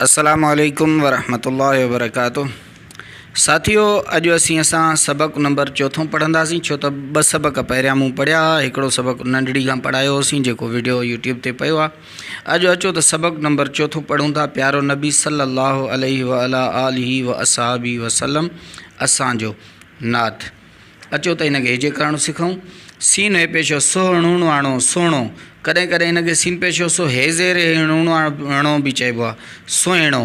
السلام عليڪم ورحمة الله وبرڪاته ساٿيو اڄ اسين اسان سبق نمبر چوٿون پڙهنداسين ڇو ته ٻه سبق پهريان مون پڙهيا هئا هڪڙو سبق ننڍڙي کان پڙهايو هوسين جيڪو ويڊيو يوٽيوب تي پيو آهي اڄ اچو ته سبق نمبر چوٿون پڙهون ٿا پيارو نبي صلي الله عليه وعلى آله واصحابه وسلم اسان جو نعت اچو ته هن کي هجي ڪراڻو سکئون. سين هي پيشو سو هڻوڻواڻو، سهڻو. ڪڏهن ڪڏهن هن کي سين پيشو سو هي زير هي هڻوڻواڻو به چئبو آهي. سهڻو.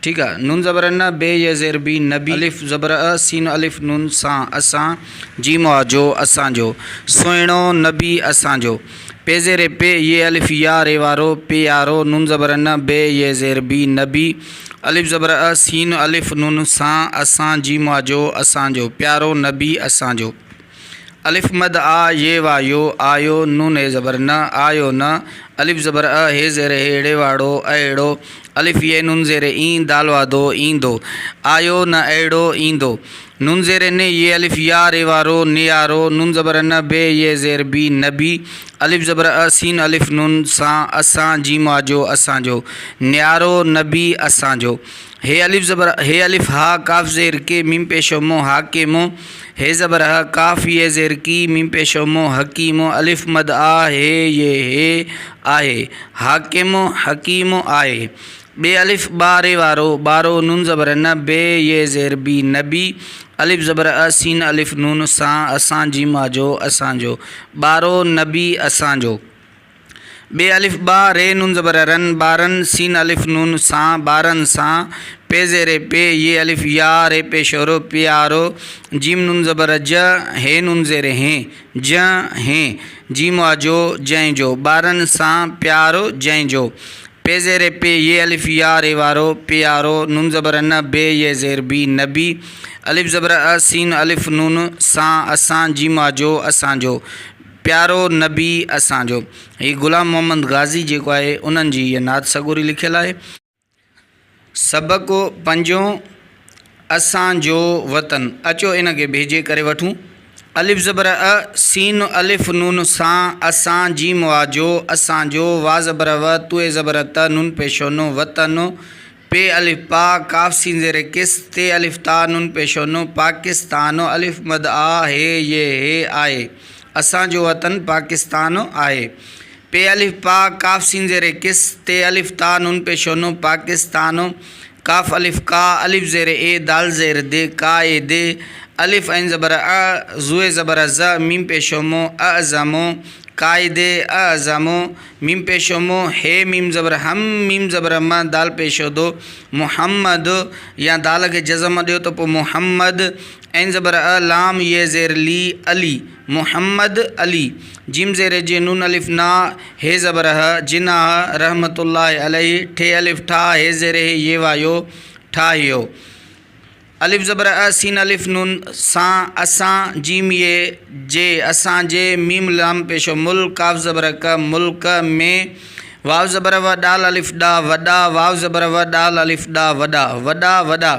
ٺيڪ آهي. نون زبر ن، بي يي زير بي، نبي. الف زبر ا، سين الف نون سان، اسان. جيم آ جو، اسان جو. سهڻو، نبي، اسان جو. پي زير پي، ي الف يا، ري وارو، پي يا رو، ن زبر ن، بي، ي زير بي، نبي، الف زبر ا، سين الف نون، سان، اسان، جيم وا جو، اسان جو، پيارو، نبي، اسان جو، الف مد آ، ي وا يو، آيو، ن ني زبر ن، آيو ن، الف زبر ا، هي زير هي، ڙي واڙو، اهڙو، الف ي نون زير اين، دال وا دو، ايندو، آيو ن اهڙو، ايندو. نون زير ن ي الف يا ر يوا رو ن يا رو نون زبر ن بي ي زير بي نبي الف زبر ا سين الف نون سان اسان جيم آجو اسان جو نيارو نبي اسان جو ه الف زبر ه الف ها ڪاف زير ڪي ميم پيشو مون حاڪيمو ه زبر ه ڪاف ي زير ڪي ميم پيشو مون حڪيمو الف مد آ ه ي ه آهي حاڪمو حڪيمو آهي ب الف با ري وارو بارو نون زبر ن بي ي زير بي نبي الف زبر ا سين الف نون سان اسان جيم آجو اسان جو بارو نبي اسان جو ب الف با ري نون زبر رن بارن سين الف نون سان بارن سان پ زير پي ي الف يا ري پيشورو پيارو جيم نون زبر ج هي نون زير هين جنهن هي جي مواجهو جنهن جو. ٻارن سان پيار جنهن جو. پي زير پي ي الف يا ري وارو پيارو ن زبر ن بي ي زير بي نبي ا زبر ا س الف نون سان اسان جي مواجهو اسان جو پيارو نبي اسان جو هي غلام محمد غازي جيڪو آهي انهن جي هيء نعت سڳوري لکيل آهي. سڀ ڪو پنھنجو اسان جو وطن، اچو ان کي ڀيڄي ڪري وٺون. الف زبر ا، سين الف نون سان، اسان جيم واجو، اسان جو، واء زبر و، تؤ زبر ت، نون پيشو ن، وطن، پ الف پا، قاف سين زير قص، ت الف تا، نون پيشو ن، پاڪستان، الف مد آ، ه ي ه آء، اسان جو وطن پاڪستان آهي. پ الف پا ق س ز ر قص ت الف تاء ن پ ش ن پاڪستان ق الف قا ا ز ر اي د ز ر د ق ا د ا ع ز ء ع ز ء ز م پ ش م ا ز م ق ا د ا ز م م پ ش م ه م ز ه م م ز م د پ ش د محمد يا د کي جزم ڏيو ته پوء محمد عين زبر ء لام ي زير لي علي محمد علي جيم زير جي نون الف نا ه زبر ه جناح رحمة الله عليه ٺ الف ٺا ه زير هي ي وا يو ٺاهيو الف زبر ا سين الف نون سان اسان جيم ي جي اسان جي ميم لام پيشو مل ڪاف زبر ڪ ملڪ ۾ واو زبر و ڏال الف ڏا وڏا واو زبر و ڏال الف ڏا وڏا وڏا وڏا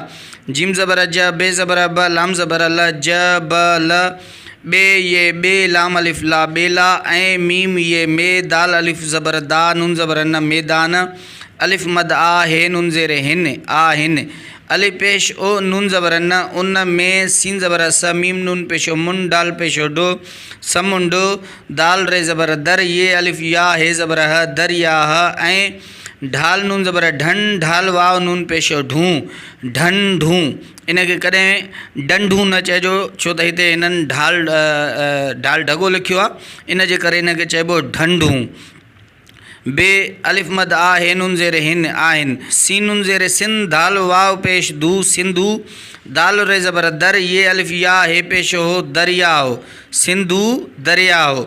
جيم زبر ج، ب زبر ب، لام زبر ل، ج ب ل، ٻ ي ٻ، لام الف لا، ٻيلا، ۽ م ي م، دال الف زبر دا، ن زبر ن، ميدان، الف مد آ، ه ن زير هن، آ هن، ع پيش او، ن زبر ن، ان م، س زبر س، م ن پيش او، من، ڊ پيش او، ڊ، سمنڊ، د ر زبر در، ي الف يا، ه زبر ه، درياه، ۽. ڍال نون زبر ا ڍن ڍال واو نون پيش يو ڍون ڍن ڍون ان کي ڪڏهن ڊنڍون نه چئجو ڇو ته هتي هنن ڍال ڍال ڍڳو لکيو آهي ان جي ڪري هن کي چئبو ڍنڍون بي الف مد آ هي نون زير هن آهن سين نون زير سن ڌال واو پيش ڌو سنڌو دال ري زبر در يه الف يا هي پيش هو درياء سنڌو درياء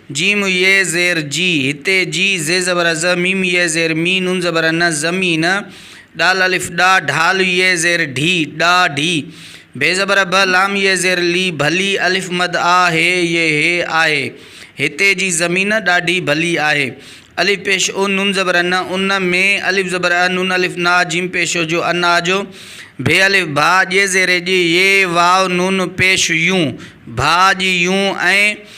ج م ي زير جي، هتي جي ز زبر ز، م ي زير مي، ن زبر ن، ز م ي ن، ڏ الف ڏا، ڍ ي زير ڍي، ڏا ڍي، ڀ زبر ڀ، لام ي زير لي، ڀلي، الف مد آ، ه ي هي، آهي، هتي جي زمين ڏاڍي ڀلي آهي. الف پيش او، ن زبر ن، ان ۾، الف زبر ا، ن الف نا، ج م پيش جو، ان آ جو، ڀ الف ڀا، ڄ زير ڄ، ي واو ن پيش يون، ڀا ڄ يون، ۽.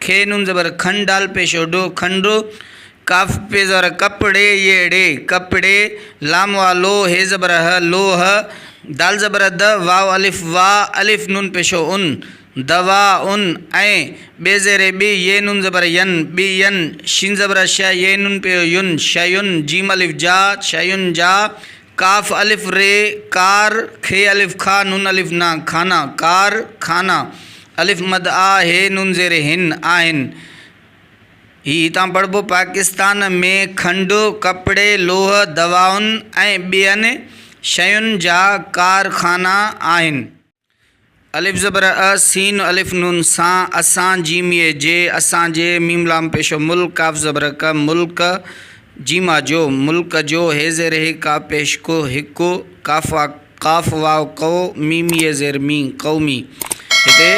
کي نون زبر کن ڊ پيشو ڊو کن ڙو قاف پيش زبر ڪپ ڙي ي ڙي ڪپڙي لام واء لو ه زبر ه لوه د زبر د واء الف وا الف نون پيشو ان دوا ان ۽ ٻي زير ٻ يي نون زبر ين ٻين شين زبر ش يي نون پيو يون شيون جيم الف جا شيون جا قاف الف ري ڪار کي الف کاء نون الف نا کانا ڪار خانا الف مد آ هي نون زير هن آهن هي هتان پڙهبو پاڪستان ۾ کنڊ ڪپڙي لوهه دوائن ۽ ٻين شين جا ڪارخانا آهن الف زبر ا، سين الف نون سان، اسان جيم يي جي، اسان جي، ميم لام پيشه مل، قاف زبر ق، ملڪ، جيم آ جو، ملڪ جو، هي زير هي، قاف پيش ڪو، هڪ، قاف آ، قاف واو قو، ميم يي زير مي، قومي، هتي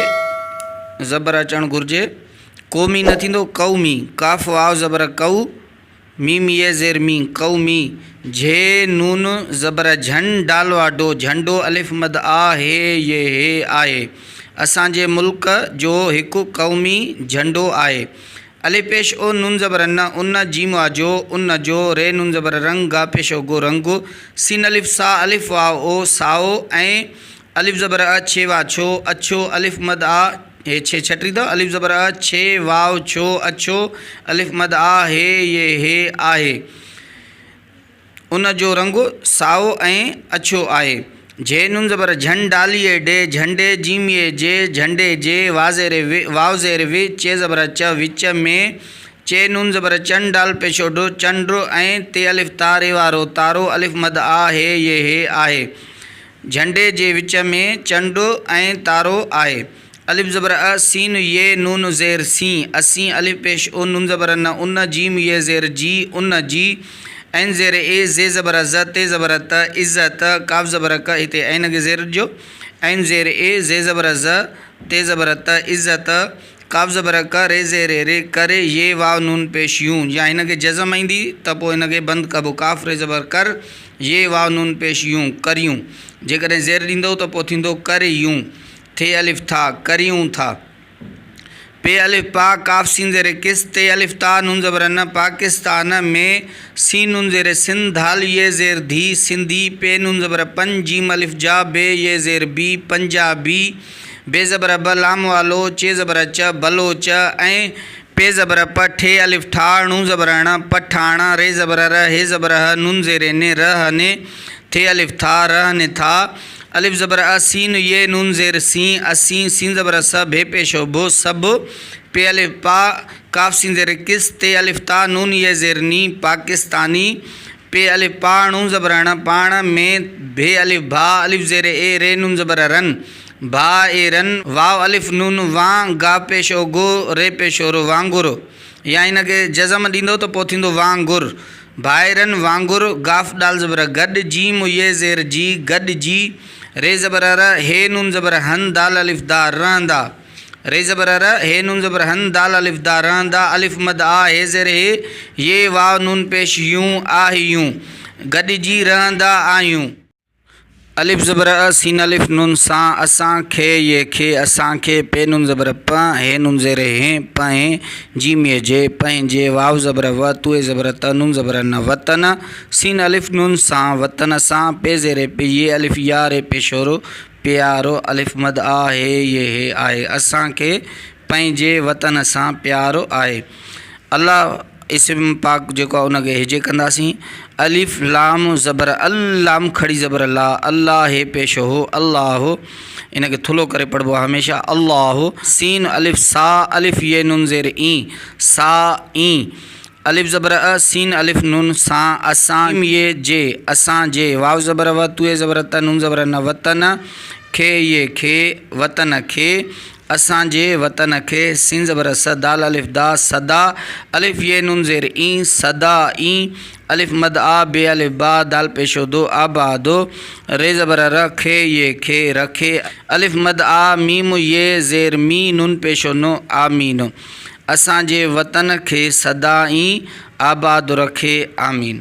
زبر اچڻ گهرجي، قومي نه ٿيندو، قومي، قاف واو زبر ڪو، م يي زير مي قو مي جھ ن ن زبر جھن ن ڊ وا ڊو جھنڊو ا مد آ ه ي ه آهي اسان جي ملڪ جو هڪ قومي جھنڊو آهي ا پيش او ن زبر ن ان ج م آ جو ان جو ر ن زبر رنگ گ پيش او گو رنگو س ن ا سا ا واء او سائو ۽ الف زبر ا ڇي وا ڇو اڇو الف مد آ هي ڇي ڇٽي اٿو الف زبر ا ڇي واو ڇو اڇو الف مد آ هي يي هي آهي ان جو رنگ سائو ۽ اڇو آهي جهي نون زبر جهن ڊالي اي ڊي جهنڊي جيم يي جي جهنڊي جي وا زير وي واو زير وي چي زبر ا چ وچ ۾ چي نون زبر چن ڊال پيشو ڊو چنڊ ۽ تي الف تا ري وا رو تارو الف مد آ هي يي هي آهي جهنڊي جي وچ ۾ چنڊ ۽ تارو آهي. ا زبر ا، س ي ن زير سين، اسين، ا پيش او، ن زبر ن، ان، ج ي زير جي، ان جي، ع زير اي، ز زبر ز، ت زبر ت، عز ت، ق زبر ق، هتي عين کي زير ڏجو، ع زير اي، ز زبر ز، ت زبر ت، عز ت، ق زبر ق، ر زير ري، ڪ ري، ي واو نون پيش يون، يا هن کي جزم ايندي ته پوء هن کي بند ڪبو، ق ر زبر قر، ي واء نون پيش يون، ڪريون. جيڪڏهن زير ڏيندؤ ته پوء ٿيندو ڪر يون. ٿ الف ٿا، ڪريون ٿا. پ الف پا، قاف سين زير قص، ت الف تا، نون زبر ن، پاڪستان، م سين نون زير سن، ڌ ي زير ڌي، سنڌي، پ نون زبر پن، ج الف جا، ب ي زير بي، پنجابي، ب زبر ب، لام والو، چ زبر چ، بلوچ، ۽. پ زبر پ، ٺ الف ٺا، ڻ زبر ڻ، پ ٺاڻ، ر زبر ر، ه زبر ه، ن زير ن، ر ه ن، ٿ الف ٿا، ر ه ن ٿا، الف زبر ا، سين ي، ن زير سين، اسين، س زبر س، ڀ پيشو ڀ، سڀ، پ الف پا، ق س زير قص، ت الف تا، ن ي زير ني، پاڪستاني، پ الف پا، ڻ زبر ڻ، پاڻ، م، ڀ الف ڀا، الف زير اي، ر ن زبر رن. ڀاء اي رن، واو الف نون وان، گا پيش او گو، ري پيش او رو، وانگورو. يا هن کي جزم ڏيندو ته پوء ٿيندو وانگر. ڀاء اي رن، وانگر، گاف ڊال زبر گڏ، جيم و يي زير جي، گڏ جي، ري زبر ر، هي نون زبر هن، دال الف دا، رهندا. ري زبر ر، هي نون زبر هن، دال الف دا، رهندا، الف مد آ، هي زير هي، يي واو نون پيش يون، آهيون. گڏجي، رهندا آهيون. الف زبر ا، سين الف نون سان، اسان، کي ي کي، اسان کي، پي نون زبر پ، ه نون زير هين، پنهين، جيم ي جي، پنهنجي، واو زبر و، تو ي زبر ت، نون زبر ن، وطن، سين الف نون سان، وطن سان، پي زير پ، ي الف يا ري پيشورو، پيارو، الف مد آ، هي ي هي، آهي، اسان کي، پنهنجي وطن سان پيار آهي الله اسم پاڪ جيڪو آهي ان کي هجي ڪنداسين الف لام زبر ال لام کڙي زبر لا الله هي پيش هو الله ان کي ٿلو ڪري پڙھبو آهي هميشه الله سين الف سا الف ي نون زير اين سا اين الف زبر ا، سين الف نون سان، اسان، م يي جي، اسان جي، واو زبر و، تئي زبر ت، نون زبر ن، وطن، کي يي کي، وطن کي، اسان جي، وطن کي، سين زبر س، دال الف دا، سدا، الف يي نون زير اي، سدا اي، الف مد آ، بي الف با، دال پيشو دو، آبادو، ر زبر ر، کي يي کي، رکي، الف مد آ، ميم يي زير مي، نون پيشو نو، آمينو. اسان جي وطن کي سدا ئي آباد رکي آمين.